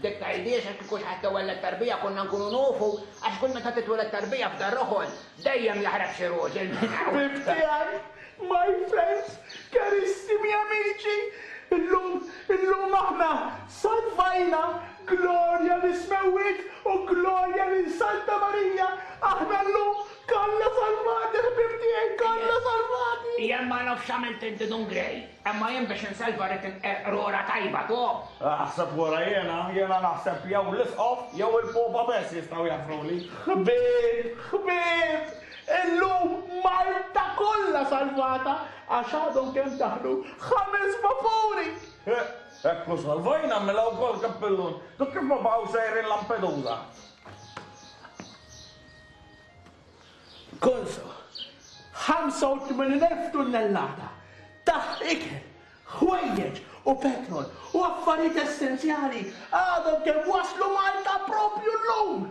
Dik ta' Idi għax kieku xi ħadd iwelled tarbija konna nkunu nufu għax kull meta titweled tarbija f'dar roħol dejjem jaħrab xi roġel minn hawn. Ħbib tiegħi, my friends, carissimi amici, illum, illum aħna salvajna, glorja lis-smewwiet u glorja lil Santa Marija, aħna llum kollha salvati ħbieb tiegħi, kollha salvati! Jien ma nafx x'għamilt inti dun Grey. Imma jien biex insalva rrid il-qerqrura tajba top! Aħseb wara jiena, jiena naħseb jew l-Isqof jew il-Popa bess jistgħu jaffruli. Ħbieb! Ħbieb! Illum Malta kollha salvata għax għadhom kemm daħlu ħames vapuri! Hekk hu salvajna mela wkoll Kappillun. Dok kif ma baqgħux sejrin Lampedusa? Gonzo, 85,000 tunnellata ta' ikel, ħwejjeġ u petrol u affarijiet essenzjali għadhom kemm waslu Malta proprju llum!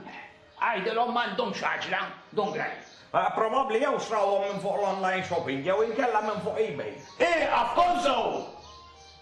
Għidilhom m'għandhomx għaġla, Dun Grant. Probabbli jew xrawhom minn fuq l-online shopping jew inkella minn fuq eBay. Ieqaf, Gonzo!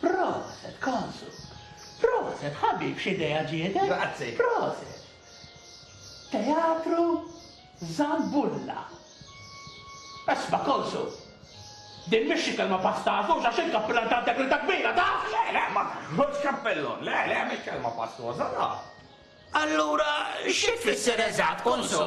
Proset Konsu! Proset ħabib x'idea ġietk! Grazzi! Proset! Teatru Zambulla. Isma' Konsu! Din mhix xi kelma pasta għażuża għax int kappillan ta' integrità kbira, taf? Le, le, ma noħodx kappillun, le, le, mhix kelma pastoża, taf? Allura xi tfisser eżatt, Konsu?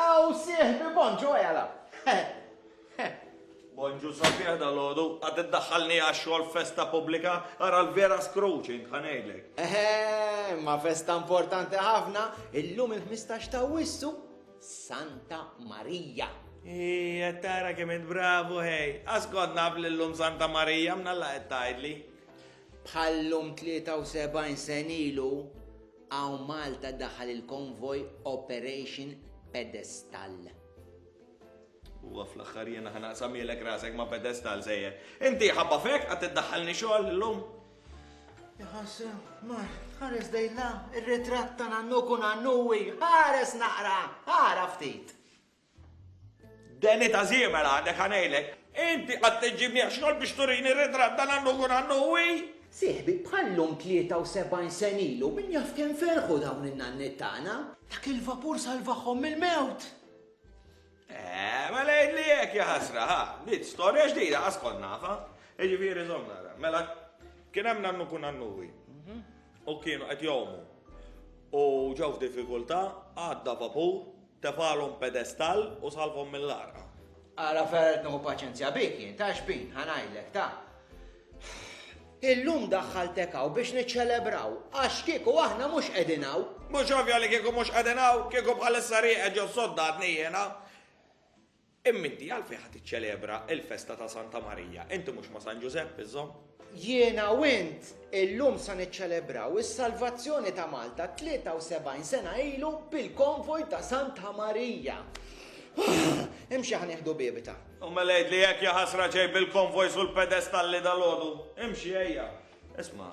Aw sieħbi Bonġu ejja l-hawn. Bonġu sabiħ dal-għodu, għad iddaħħalni għax-xogħol festa pubblika, ara l-vera scrooching, ħa ngħidlek. Eħe, ma festa importanti ħafna, illum il-15 ta' wissu, Santa Marija. Ija, tara kemm int bravu, hej. Askont naf li llum Santa Marija mnalla qed tgħidli. Bħallum 73 sen ilu, Hawn Malta daħal il-konvoj Operation Pedestal. Huwa fl-aħħar jiena ħa naqsamielek rasek ma' pedestal sejjer. Inti ħabba fek għad tiddaħħalni xogħol illum. Jħassu, mar, ħares dejla, ir-ritratt ta' nannu kun nannuwi, ħares naqra, ħara ftit. Danny ta' Ziemer għadek ħa ngħidlek. Inti qatt iġġibni għax-xogħol biex turini ritratt ta' Nannu Gu Nannu Wi? Sieħbi, bħal-lum 73 sena ilu min jaf kemm ferħu dawn in-nanniet tagħna! Dak il-vapur salvahom mill-mewt! Eh, mela jidli hekk ja ħasra, ha, dit storja ġdida qas kont nafa. Jiġifieri żomm nara. Mela kien hemm nannu kun nannuwi. Mhm. U kienu qed jomu. U ġew f'diffikultà, għadda vapur, Tefagħlhom pedestall u salvhom mill-għarqa. Ara fejn qed nieħu paċenzja bik jien, ta' xbin, ħa ngħidlek, ta'. Illum daħħaltek hawn biex niċċelebraw, għax kieku aħna mhux qegħdin hawn. Mhux ovvja li kieku mhux qegħdin hawn, kieku bħalissa rieqed ġo sodda għadni jiena. Imma inti għalfejn ħa tiċċelebra l-festa ta' Santa Marija? Inti mhux ma' San Ġużepp iżżomm? Jiena u int illum sa niċċelebraw is-salvazzjoni ta' Malta 73 sena ilu bil-konvoj ta' Santa Marija. Imxi ħa nieħdu biebita. U mela għidli jekk ja ħasra ġej bil-konvojs u l-pedestalli dalgħodu. Imxi ejja. Isma',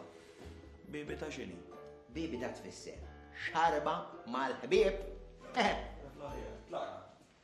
biebita x'inhi? Biebita tfisser xarba mal-ħbieb. Eħe. Tlaqna.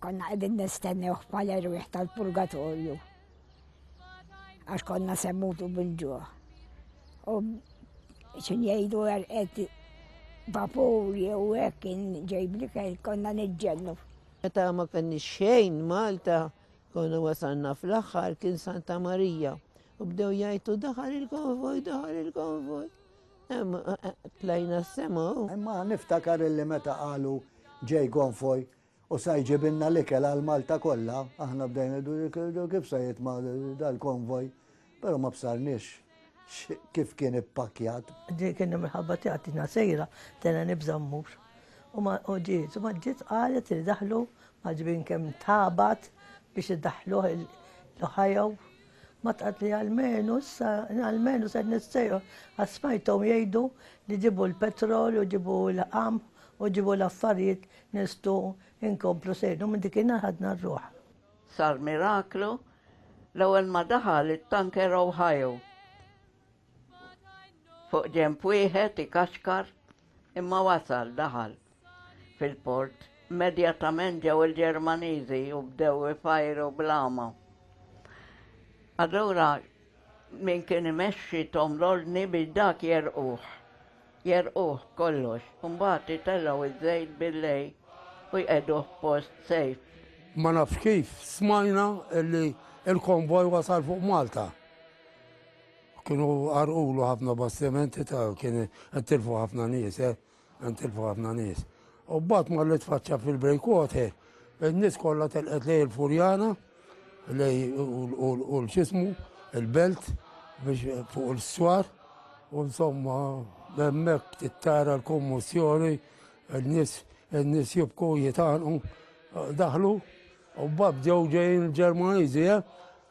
Konna qegħdin nistennew bħala rwieħ tal-purgatorju. Għax konna semmutu bil-ġuħ. U xin jgħidu għarqet vapur jew hekk kien ġejbli konna niġġennu. Meta ma kenni xejn Malta, konna wasalna fl-aħħar kien Santa Marija. U bdew jgħidu daħal il-konvoj, daħal il-konvoj. Tlajna s-sema. Imma niftakar illi meta qalu ġej gonfoj u sa jġibilna l-ikel għal Malta kollha, aħna bdejna kif sa jitma dal-konvoj, però ma bsarniex kif kien ippakjat. Dik kien minħabba tiegħi sejra, tena nibża' mmur. U ma ġiet, u ma ġiet qalet li daħlu maġbin kemm tabat biex iddaħluh l-Ohio Ma tgħid li almenu issa almenu se nistejqu għax smajthom jgħidu li ġibu l-petrol u ġibu l-qamħ u ġibu l-affarijiet nistgħu nkomplu sejrin u minn dikinhar ħadna r-ruħ. Sar miraklu l-ewwel ma daħal it-tanker Ohio. Fuq ġemp wieħed ikaxkar imma wasal daħal fil-port. Immedjatament ġew il-Ġermaniżi u bdew ifajru blama. Allura min kien imexxi Tom Lordni biex dak jerquh. Jerquh kollox, mbagħad itellgħu iż-żejt billej u jqeduh post sejf. Ma nafx kif smajna li l-konvoj wasal fuq Malta. Kienu għarqulu ħafna bastimenti ta' kien għantilfu ħafna nies, eh? għantilfu ħafna nies. U bat ma li tfaċċa fil-breakwater, il-nis kollha telqet lej il-furjana, lej u l-xismu, il-belt, biex fuq il-swar, u insomma, memmek tittara l-kommissjoni, il-nis, il-nis jibku jitanqu, daħlu, u bab ġew ġejn il-Ġermaniżi, eh?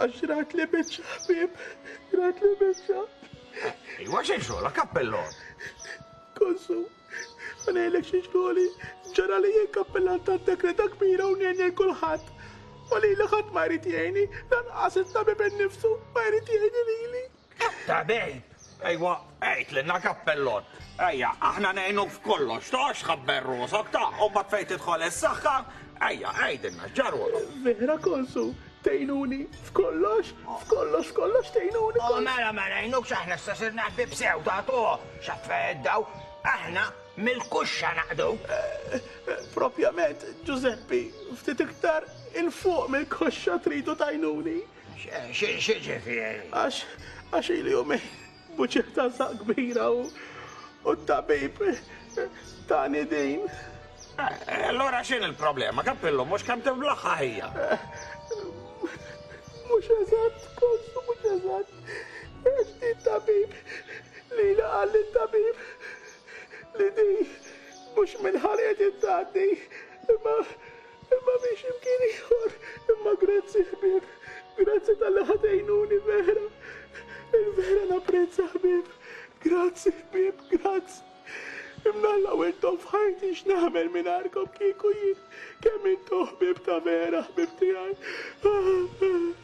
Għax rajt li biċċa ħbieb, rajt li biċċa. Iwa xejn xogħla kappellon. Konsu, għanejlek xi xogħli, ġara li jien kappellan ta' dekreta kbira u ngħin kulħadd. U lili ħadd ma jrid jgħini, lanqas it-tabib innifsu ma jrid jgħini lili. Tabib! Ejwa, għidlilna kappellun. Ejja, aħna ngħinuk f'kollox, ta' x'ħabber rosok, ta' u mbagħad fejn tidħol is-saħħa, ejja, għidilna x'ġarwok. Vera Konsu, tgħinuni f'kollox, f'kollox, f'kollox tgħinuni. O mela ma ngħinukx aħna issa sirna ħbieb sew, ta' tu x'affè daw, aħna mill-kuxxa naqdu. Propjament, Ġużeppi, ftit iktar 'il fuq mill-koxxa tridu tgħinuni. X'ġifieri? Għax għax ili jumejn buċiet ta' saq kbira u t-tabib tani din. Allora x'in il-problema? Kappillu mhux kemm tiblaħħa ħija. Mhux eżatt, kossu mhux eżatt. Għax di tabib li laqal li tabib li di mhux minn ħarqet it-tgħaddi imma Imma mhix imkien ieħor, imma grazzi ħbieb, grazzi talli ħa tgħinuni vera. Il-vera napprezza ħbieb, grazzi ħbieb, grazzi. Imnalla u intom f'ħajti x'nagħmel mingħajrkom kieku jien, kemm intom ħbieb ta' vera, ħbieb tiegħi.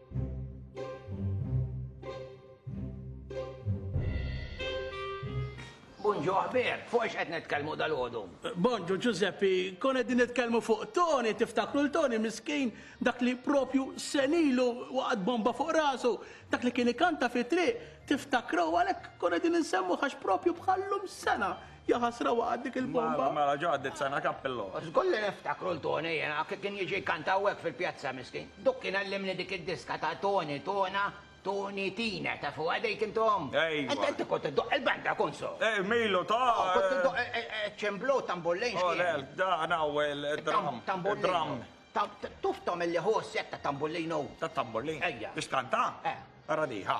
Bonġu aħber, fuq ex qed nitkellmu dal-għodu? Bonġu Giuseppe, kon qegħdin nitkellmu fuq Tony, tiftakru l-Tony miskin, dak li propju senilu waqgħet bomba fuq rasu, dak li kien ikanta fi triq, tiftakru għalhekk kon qegħdin insemmu għax propju bħallum sena. Jaħasra waqgħet dik il-bomba. Mela, mela, ġo għaddiet sena kappillo. Żgulli niftakru l-Toni jiena, kien jiġi jkanta hawnhekk fil-pjazza miskin. Duk kien għallimni dik id-diska ta' Toni, Tona, Toni, Tina, tafuha dik intom? Ejwa. Int inti kont iddoqq il-banda kunsu. Eh, Milu, ta'. Oh, kont iddoqq eh, eh, eh, ċimblu tambullin oh, xkien. Olel, dan hawn il-dram. Tambullin. Tuftom illi hu s-set ta' tambullinu. Ta' tambullin? Ejja. Biex kanta? Eh. Radiħa.